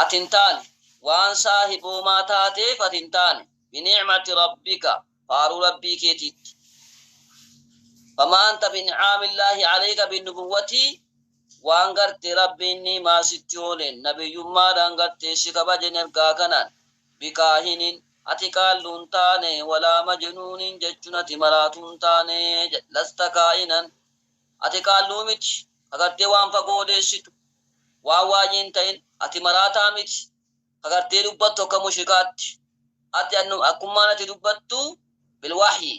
Ati hin taane, waan saahiboomaa taateef ati hin taane, bini'mati rabbika, faaruu Rabbii keetiitti. Famaa anta bini'aamillaahi aleyka binnubuwwati, waan gartee Rabbiin ni'maa sitti ooleen, nabiyyummaadhaan gartee si kabajen ergaa kanaan, bikaahinin, ati qaalluu hin taane, walaa majinuunin jechuun ati maraatuu hin taane, lasta kaa'inan, ati qaalluu miti, ka gartee waan fagoo odeessitu. Waan waajii hin ta'in, ati maraataa miti, ka gartee dubbattu akka mushrikaatti. Ati akkummaan ati dubbattu bil-wahyi,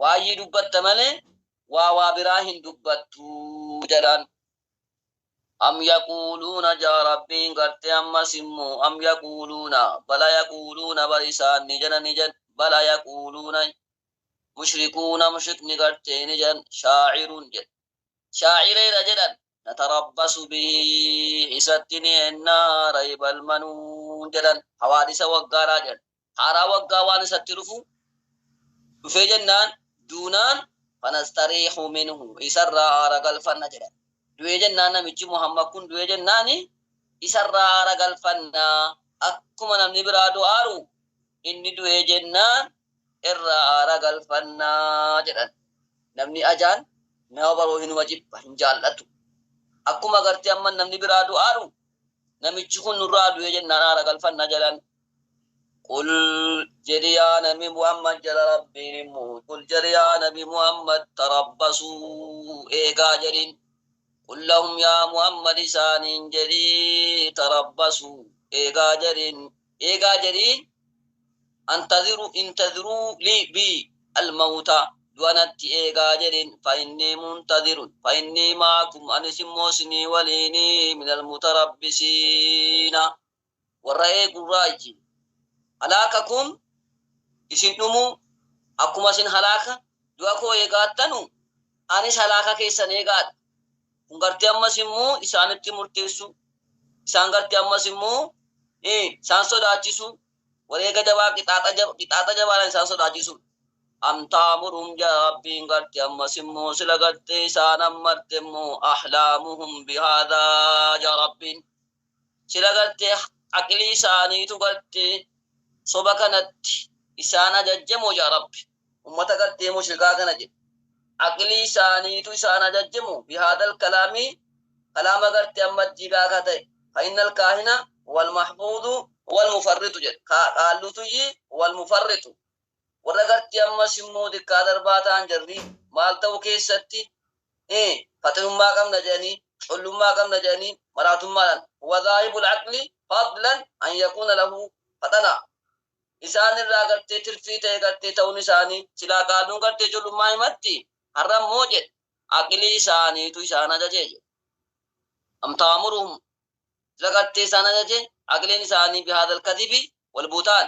waayii dubbatta malee, waa waa biraa hin dubbattu jedhaan. Am yaquuluuna ja'a Rabbiin gartee ammas immoo, am yaquuluuna, bal ayaquuluuna bar isaan ni jedhan ni jedh, bal ayaquuluuna, mushrikuuna mushrikni gartee ni jedhan, shaacirun jedh. Shaacireera jedhan, natarabbasu bihi isatti ni enna raybal manuun jedhan hawaadisa waggaadhaa jedhan haaraa waggaa waan isatti dhufu dhufee jennaan duunaan fanastariihu minhu isarraa aara galfanna jedhan du'ee jennaan namichi muhammad kun du'ee jennaani isarraa aara galfanna akkuma namni biraa du'aaru Inni du'e jennaan irraa aara galfanna jedhan. Namni ajaan nama baroo hinuma jibba, hin jaallatu. Akkuma agartee amma namni biraa du'aaru namichi kun nurraa du'e jennaan aara galfanna jedhan. Qul jedhi yaa nabi Muhammad jara Rabbiin hin bu'u. Qul jedhi yaa nabi Muhammad tarabbasuu eegaa jedhin. Qul lahum yaa Muhammad isaaniin jedhi tarabbasuu eegaa jedhin. eegaa jedhiin antadhiru intadhiruu lii bii al mawuta du'a natti eegaa jedhiin fa innii muntadhirun fa innii ma'akum anis immoo isinii waliini minal mutarabbisiina warra eegurraayyi halaakakum isin dhumuu akkuma isin halaaka du'a koo eegaattanu anis halaaka keessan eegaadha. Kun gartee ammas immoo isaanitti murteessu, isaan gartee ammas immoo isaan sodaachisu, wareega jabaa qixaaxa jabaadhaan isaan sodaachisu. Am ta'muruhum jedha Rabbiin gartee ammas immoo sila gartee isaan ammarte immoo ahlaamuhum bihaadaa jedha Rabbiin. Sila garte aqlii isaaniitu garte soba kanatti isaan ajajje moo yaa rabbi ummata gartee mushrikaa kana jedhe aqlii isaaniitu isaan ajajje moo bihaadal kalaamii kalaama garte amma diigaa ka ta'e fa innal kaahina wal mahfuudu wal mufarritu jedhe ka qaallutuyyi wal mufarritu Warra gartii ammas immoo diktator baa ta'an jarrii maal ta'uu keessatti i faxinummaa qabna jedhanii, collummaa qabna jedhanii maraatummaadhaan wa dhaahibul aqli fadlan an yakuuna lahu faxana isaan irraa gartee tirfii ta'e gartee ta'uun isaanii, silaa qaaduun gartee collummaa himatti har'a immoo jedhe aqilii isaaniitu isaan ajaje jedhe. Am ta'amuruhum sila gartee isaan ajaje aqiliin isaanii bihaadhal kadhibi wal buhtaan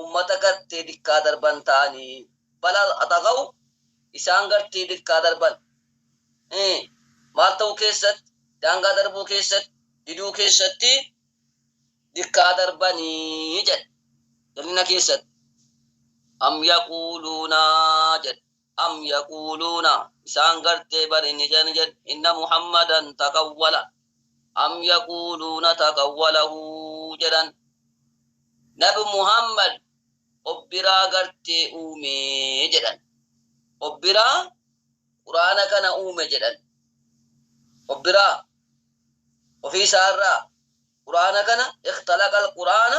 ummata gartee dikkaa darban ta'anii, bal atagaw, isaan gartee dikkaa darban, i, maal ta'uu keessatti, daangaa darbuu keessatti, diduu keessatti, dikkaa darbanii jedhe, jal'ina keessatti, am yaquuluuna jedhe. Am yaquuluuna, isaan gartee bari ni jedhan jedhe, inna Muhammadan takawwala, am yaquuluuna takawwalahu jedhan, Nabi Muhammad of biraa gartee uume jedhan, of biraa Qur'aana kana uume jedhan, of biraa, ofii isaa irraa, Qur'aana kana, ikhtalaqal Qur'aana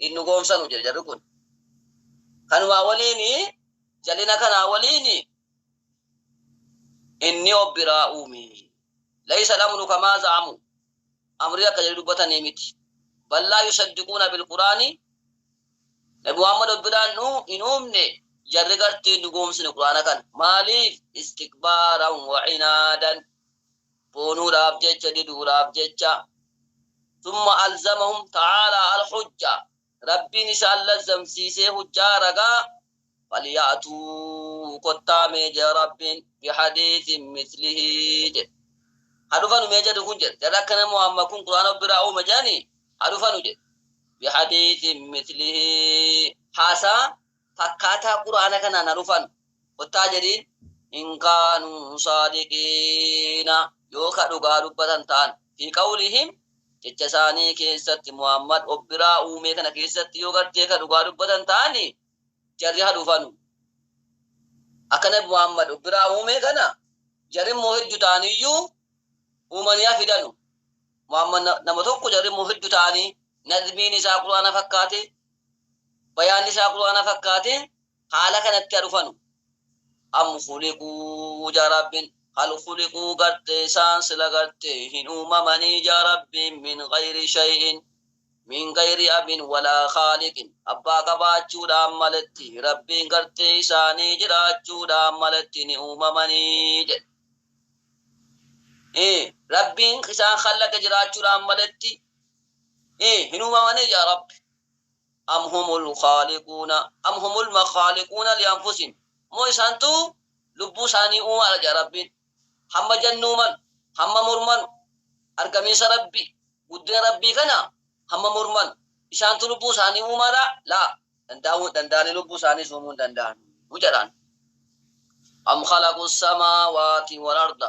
hin dhugoomsanu jedhe jarri kun. Kanumaa waliin jalina kanaa waliin inni of biraa uume. Laysa al-amru kamaa za'amu. Amri akka jedhu dubbatanii miti. Ballaa yusaddiquuna bilquraani Nabi Muhammad of biraan nu hin uumne jarri gartee hin dhugoomsine quraana kana. Maaliif? Istikbaaran wa cinaadan. boonuudhaaf jecha diduudhaaf jecha summa alzamahum ta'aalaa alhujja Rabbiin isaan lazzamsiisee hujjaa ragaa falya'tuu kottaa mee jedhe Rabbiin bihadiisin mislihii jedhe ha dhufanu mee jedhu kun jedhe jarri akkana Muhammad kun Qur'aana biraa uume jedhanii ha dhufanu jedhe bihadiisin mislihii haasaa fakkaataa qur'aana kanaan ha dhufan kottaa jedhiin in kaanuu saadiqiina yoo ka dhugaa dubbatan ta'an fi qawlihim jecha isaanii keessatti muhammad of biraa uumee kana keessatti yoo gartee ka dhugaa dubbatan ta'ani jarri ha dhufanu akka nabi muhammad of biraa uumee kana jarri immoo heddu ta'aniyyuu uumanii ha fidanu muhammad nama tokko jarri immoo heddu ta'anii nazmiin isaa qur'aana fakkaate bayaanni isaa qur'aana fakkaate haala kanatti ha dhufanu am khuliquu ja rabbin hal khuliquu garte isaan sila garte hin uumamanii ja rabbiin min gayri shay'in min gayri abin walaa khaaliqin abbaa qabaachuudhaan maletti rabbiin garte isaanii jiraachuudhaan maletti ni uumamanii jedhe Ee, rabbiin isaan khallaqe jiraachuudhaan maletti ee hin uumamanii yaa rabbi am humul khaaliquuna am humul makhaaliquuna lianfusihim moo isaantu lubbuu isaanii uumaadha jedha rabbiin hamma jennuu malu hamma mormanu argamiinsa rabbii guddina rabbii kana hamma mormanu isaantu lubbuu isaanii uumaadha laa dandaa'uu hin danda'anii lubbuu isaaniis uumuu hin danda'an jedhaan am khalaqu samaawaati wal arda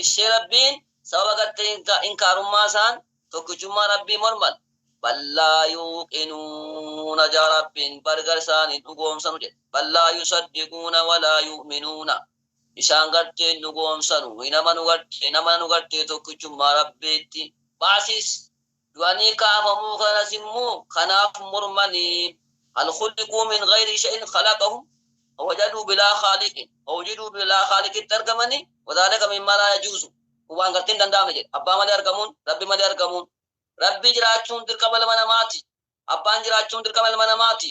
Ibsee Rabbiin sababa gartee inkaarummaa isaan tokkichummaa Rabbii morman bal laa yuuqinuuna jaa Rabbiin bar gar isaan hin dhugoomsanu jedhe bal laa yusaddiquuna walaa yu'minuuna isaan gartee hin dhugoomsanu hin amanu gartee hin amananu gartee tokkichummaa Rabbiitti ba'asiis du'anii kaafamuu kanas immoo kanaaf mormani hal khuliquu min ghayri shay'in khalaqahum wawajaduu bilaa khaaliqin wawujiduu bilaa khaaliqitti argamanii wadhaalika mimmaa laa yajuuzu kun waan gartee hin danda'amne jedhe abbaa malee argamuun rabbi malee argamuun rabbii jiraachuun dirqama ilma namaati abbaan jiraachuun dirqama ilma namaati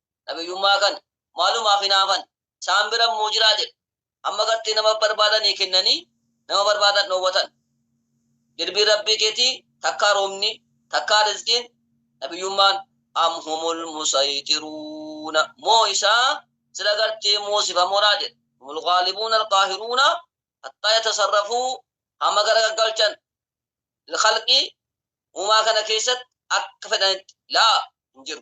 Nabiyyummaa kana maalumaaf hinaafan? Isaan bira immoo jiraa jedhe. Hamma gartee nama barbaadanii kennanii nama barbaadan dhoowwatan. Dirbii Rabbii keetii takkaa roobni, takkaa rizqiin, Nabiyyummaan, am humul musayxiruuna, moo isaa sila gartee moosifamoodhaa jedhe. Humul ghaalibuuna alqaahiruuna hattaa yatasarrafuu hamma gara gaggalchan lilkhalqi uumaa kana keessatti akka fedhanitti laa hin jiru.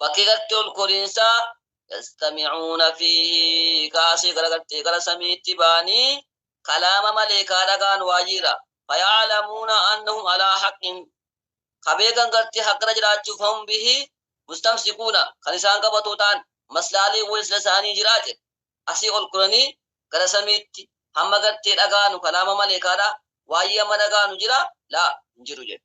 bakkee gartee ol koriinsaa yastamicuuna fiihi kaasee gara gartee gara samiitti baanii kalaama maleekaa dhagaan waajiidha fayaclamuuna annahum alaa haqqin ka beekan gartee haqqira jiraachuuf hum bihi mustamsikuuna kan isaan qabatoo ta'an maslaalee wal isla isaanii jiraa jedhe asii ol koranii gara samiitti hamma gartee dhagaanu kalaama maleekaadha waayii amma dhagaanu jira laa hin jiru jedhe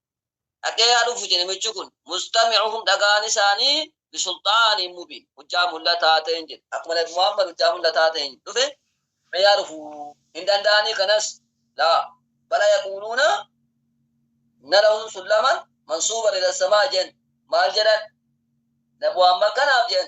dhaqee yaa dhufu je namichi kun mustami'uhum dhagaan isaanii bisulxaaniin mubiin hujjaa mul'ataa ta'een jedhe akkuma nabi muhammad hujjaa mul'ataa ta'een dhufe mee yaa dhufu hin danda'anii kanas laa bala yaquuluuna nalahum sullaman mansuuban ila samaa jen maal jedhan nabi muhammad kanaaf jen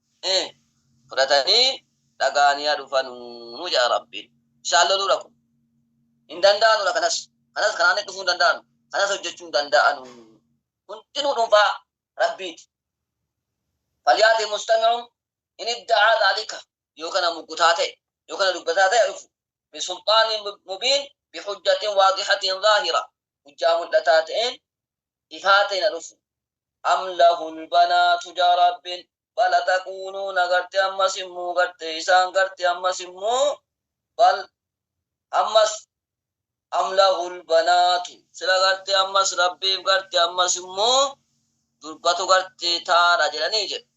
ee fudhatanii dhaga'anii haa dhufanuu jedha rabbiin isaan loluudha kun hin danda'anuudha kanas kanas kanaan dhufuu hin danda'anu kanas hojjechuu hin danda'anu hundinuu dhuunfaa rabbiiti falyaati mustami'uun in idda'aa dhaalika yoo kana muggutaa ta'e yoo kana dubbataa ta'e dhufu bisulxaaniin mubiin bihujjatiin waaqixatiin zaahira hujjaa mul'ataa ta'een ifaateen ha dhufu. Am lahul banaatu jaa Rabbiin. Bal ataquuluuna garte ammas immoo garte isaan garte ammas immoo bal ammas am lahul banaatu sila garte ammas Rabbiif garte ammas immoo durbatu garte taadha jedhanii jedhe.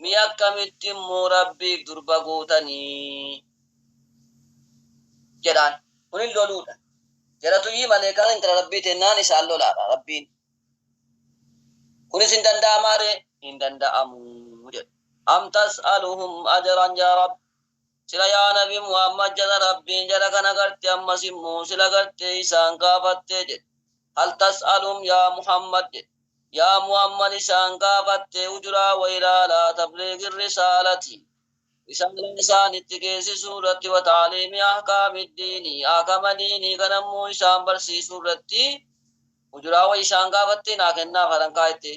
Mee akkamitti immoo Rabbiif durba gootanii? jedhaan. Kunin loluudha. Jaratuyyii maleekaan intala Rabbii teennaan isaan lolaadha. Rabbiin Kunis hin danda'amaa ree? Hin danda'amu jedhe. Am tas'aluhum ajran yaa Rabbi? Sila yaa nabi Muhammad jara Rabbiin jara kana garte ammas immoo sila gartee isaan gaafattee jedhe. Hal tas'aluhum yaa Muhammad jedhe. Yaa Muhammad isaan gaafattee ujuraa wayraa alaa tabliigi risaalati. Risaalaa isaanitti geessisuu irratti wa ta'aliimi ahkaamid diini ahkama diinii kana immoo isaan barsiisuu irratti ujuraa wayi isaan gaafattee naa kennaaf haran kaa'ettee.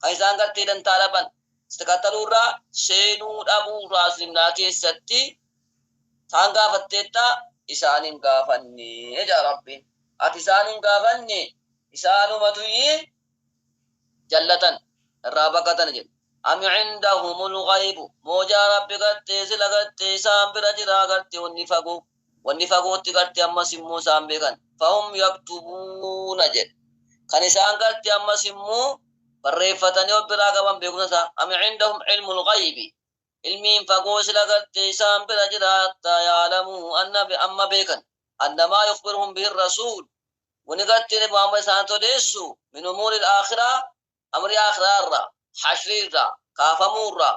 kan isaan gartee dantaa dhaban sakataluu irraa seenuu dhabuu irraa islimnaa keessatti isaan gaafatteetta isaan hin gaafanne jedha rabbiin ati isaan hin gaafanne isaanumatuyyi jallatan irraa baqatan jedhe am indahumul ghaybu moojaa rabbi gartee sila gartee isaan bira jiraa gartee wanni fagoo Wanni fagootti garte ammas immoo isaan beekan. Fahum yaktubuuna jedhe. Kan isaan garte ammas immoo barreeffatanii of biraa qaban beekumsa isaa. Am indahum cilmul ghaybi. Ilmiin fagoo sila garte isaan bira jira hattaa ya'alamuhu anna amma beekan. Anna maa yukhbiruhum bihi rasuul. Wani garte nabi Muhammad isaanitti odeessu min umuuril aakhiraa amrii aakhiraa irraa, hashrii irraa, kaafamuu irraa,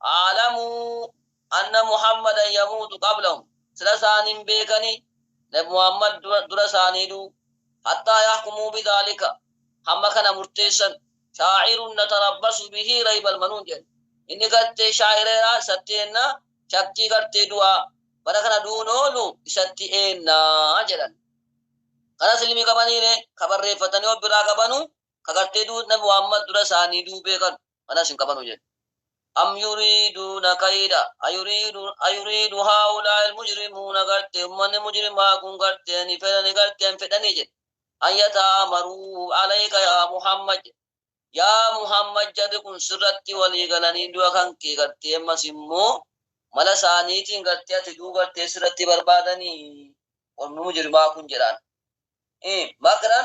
A'lamuu, anna Muhammadan yamuutu qablahum, sila isaan hin beekanii, nabi Muhammad dura isaanii du'u, hattaa yahkumuu bidhaalika, hamma kana murteessan, shaa'irun natarabbasu bihii raybal manuun jedhan, inni gartee shaa'ireeraa isatti eenna, shakkii gartee du'aa, bara kana du'uun oolu isatti eenna jedhan. Kanas ilmii qabaniiree, ka barreeffatanii of biraa qabanu, ka gartee du'u nabi Muhammad dura isaanii du'u beekanu. manas hin qabanu jedhe am yuriiduuna kayda ayuriidu ayuriidu haa'ulaa ilmujrimuuna garte ummanni mujrimaa kun garte ni fedhani garte hin fedhani jedhe an yata'amaruu alayka yaa muhammad jedhe yaa muhammad jarri kun sirratti walii galanii du'a kan kee gartee ammas immoo mala isaaniitiin gartee ati duu gartee sirratti barbaadanii ormi mujrimaa kun jedhaan makran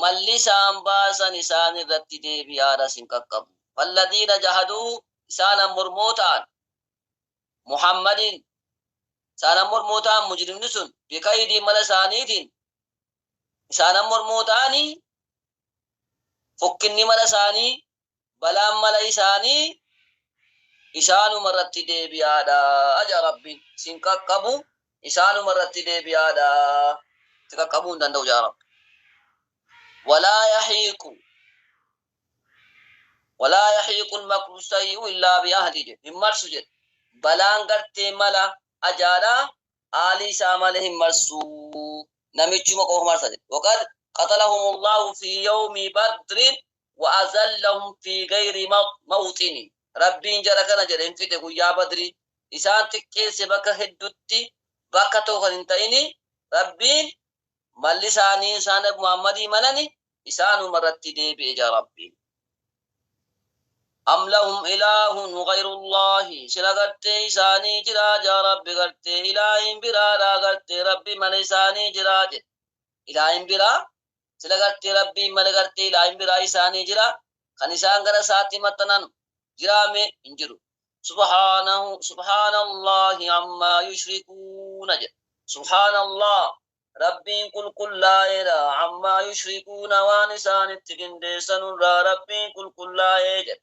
malli isaan baasan isaan irratti deebii aaraas hin qaqqabu. Falladiina jahaduu isaan ammormoo ta'an Muhammadiin isaan ammormoo ta'an mujrimni sun bikaydii mala isaaniitiin isaan ammormoo ta'anii fokkinni mala isaanii balaan mala isaanii isaanuma irratti deebi'aadha jedha Rabbiin. Isin qaqqabu isaanuma irratti deebi'aadha. Itti qaqqabuu hin danda'u jedha Rabbi. Walaa yahiiqu walaa yahiiqu makru sayyi'u illaa bi ahli jedhe hin marsu jedhe. Balaan gartee mala ajaadha aalii isaa malee hin marsu. Namichuma qofa marsa jedhe. Waqad qatalahumullahu fi yawmi badrin wa azallahum fi gayri mawxini Rabbiin jara kana jedhe hin fixe guyyaa badrii isaan xiqqeesse bakka heddutti bakka tokko kan hin ta'ini Rabbiin malli isaanii isaan nabi Muhammadii malani isaanuma irratti deebi'e jaa Rabbiin am lahum ilaahun gayrullaahi sila gartee isaanii jiraa jaa rabbi gartee ilaahin biraadhaa gartee rabbi mala isaanii jiraa jedhe ilaahin biraa sila gartee Rabbiin male gartee ilaahin biraa isaanii jira kan isaan gara isaatti maxxanan jiraame hin jiru subhaanahu subhaanallahi ammaa yushrikuuna jedha subhaanallah rabbiin qulqullaa'eedha ammaa yushrikuuna waan isaanitti qindeessanurraa rabbiin qulqullaa'ee jedha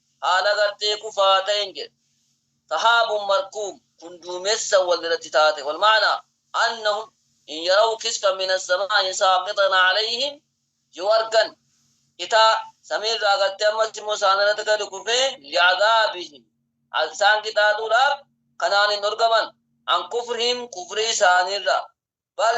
Haala gartee kufaa ta'een jedhe. Sahaabun markuum, kun duumessa wal irratti taate. Walma'naa, annahum in yaraw kisfan min assamaa'i saaqitan alayhim, yoo argan citaa samii irraa gartee ammas immoo isaan irratti gadi kufee li'adaabihim, isaan qixaaxuudhaaf kanaan hin dhorgaman, an kufrihim, kufrii isaanii irraa, bal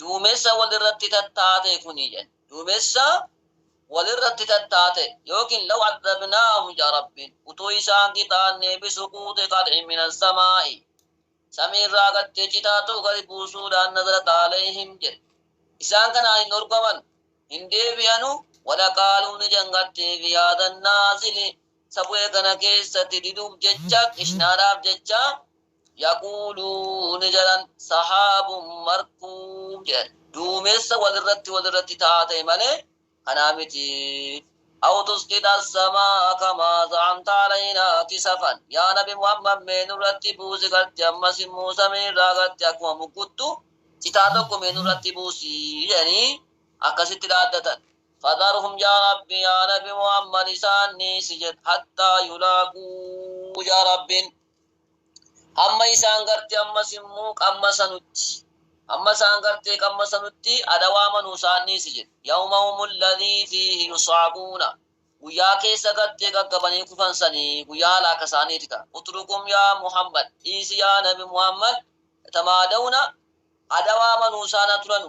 Duumessa wal irratti tattaate kuni jedhan. Duumessa wal irratti tattaate yookiin law addabnaahum jedha Rabbiin. Utuu isaan qixaannee bisuquuxi qad'in min assamaa'i. Samii irraa gattee citaa ta'u gadi buusuudhaan nazalat alayhim jedhe. Isaan kanaan hin dhorkaman, hin deebi'anu, walaqaaluu ni jedhan gattee fi haadan naazili isa bu'e kana keessatti diduuf jecha, qishnaadhaaf jecha, Yaquuluu ni jedhan, Sahaabun markuum jedhan, duumessa wal irratti wal irratti ta'aa ta'e malee kanaa miti. Aw tusqita as-samaa'a kamaa za'amta alaynaa kisafan, yaa Nabi Muhammad mee nurratti buusi garti ammas immoo samii irraa garti akkuma mukkuttu citaa tokko mee nurratti buusi jedhanii akkasitti dhaaddatan. Fadharhum yaa Rabbi yaa Nabi Muhammad isaan dhiisi jedhe hattaa yulaaquu yaa Rabbiin. Hamma isaan garte ammas immoo qammasanutti. Hamma isaan gartee qammasanutti adawaa manuu isaan dhiisi jedhe. Yawmahum alladhii fiihi yus'aquuna. Guyyaa keessa gartee gaggabanii kufan sanii guyyaa halaaka isaaniiti ta'a. Utrukum yaa Muhammad, dhiisi yaa Nabi Muhammad, yatamaadawna, adawaa manuu isaan haa turanu.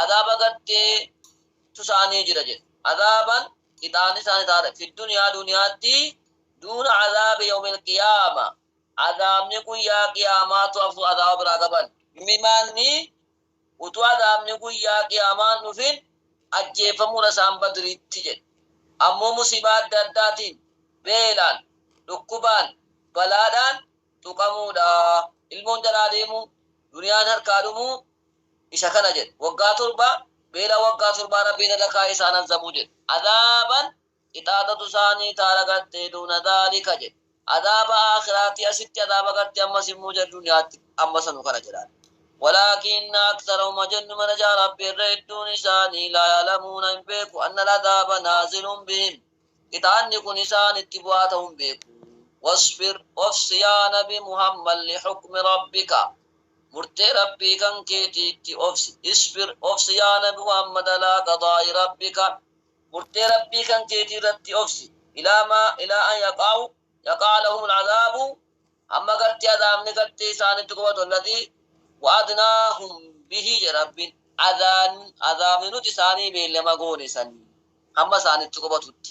Azaaba gartee tu isaanii jira jedhe. Azaaban, qixaanni isaanii taate, fi dunyaa duniyaatti, duuna azaabi yawmil qiyaama, azaabni guyyaa qiyaamaa tu hafuu azaaba biraa qaban. Mimaanni, utuu azaabni guyyaa qiyaamaa hin dhufin ajjeeffamuu dha isaan Badriitti jedhe. Ammoo musiibaa adda addaatiin, beelaan, dhukkubaan, balaadhaan, tuqamuu dha. Ilmoon jalaa deemuu, duniyaan harkaa dhumuu, Isa kana jedhe, Waggaa torba, beela waggaa torbaa Rabbiin irra kaayee isaan azabuu jedhe. Azaaban qixaaxatu isaanii ta'a lagattee duuna zaalika jedhe. Azaaba aakhiraatii asitti azaaba gartee ammas immoo jara duniyaatti amma sanu kana jedhaan. Walaakinna aktharahum hajennu mana jaa Rabbi irra hedduun isaanii laa ya'lamuuna hin beeku anna al-azaaba naazilun bihim qixaanni kun isaanitti bu'aa ta'u hin beeku. Wasbir obsi yaa nabi Muhammad lihukmi Rabbika. Murtee Rabbii kan keetiitti obsi, isbir, obsi yaa Nabi Muhammad alaa qadaa'i Rabbika, murtee Rabbii kan keetii irratti obsi, ilaa maa, ilaa an yaqa'u, yaqa'a lahumul azaabu, hamma gartee azaabni gartee isaanitti qubatu, alladhii, wa'adnaahum bihi jedhe Rabbiin, adaan, azaabni nuti isaanii beellama goone san, hamma isaanitti qubatutti.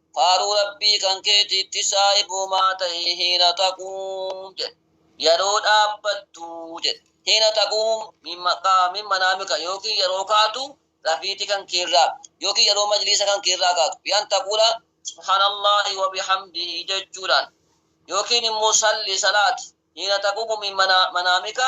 Faaruu Rabbii kan keetiitti saahibumaa tahi hiina taquum jedhe. Yeroo dhaabbattu jedhe. Hiina taquum min maqaa min manaamika yookiin yeroo kaatu rafiiti kan keerraa yookiin yeroo majliisa kan keerraa kaatu bi'an taquula subhaanallaahi wa bihamdihi jechuudhaan yookiin immoo salli salaati hiina taquumu min manaamika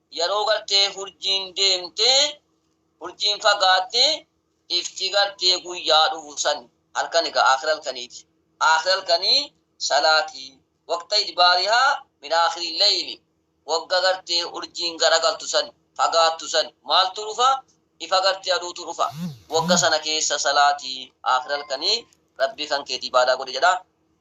Yeroo gartee hurjiin deemte hurjiin fagaatte ifti gartee guyyaa dhufu san halkan egaa aakhira halkaniiti aakhira halkanii salaati waqta idbaarihaa min aakhiri leyli wagga gartee hurjiin garagaltu san fagaattu san maaltu dhufa ifa gartee aduutu dhufa wagga sana keessa salaati aakhira halkanii rabbii kan keeti ibaadaa godhi jedha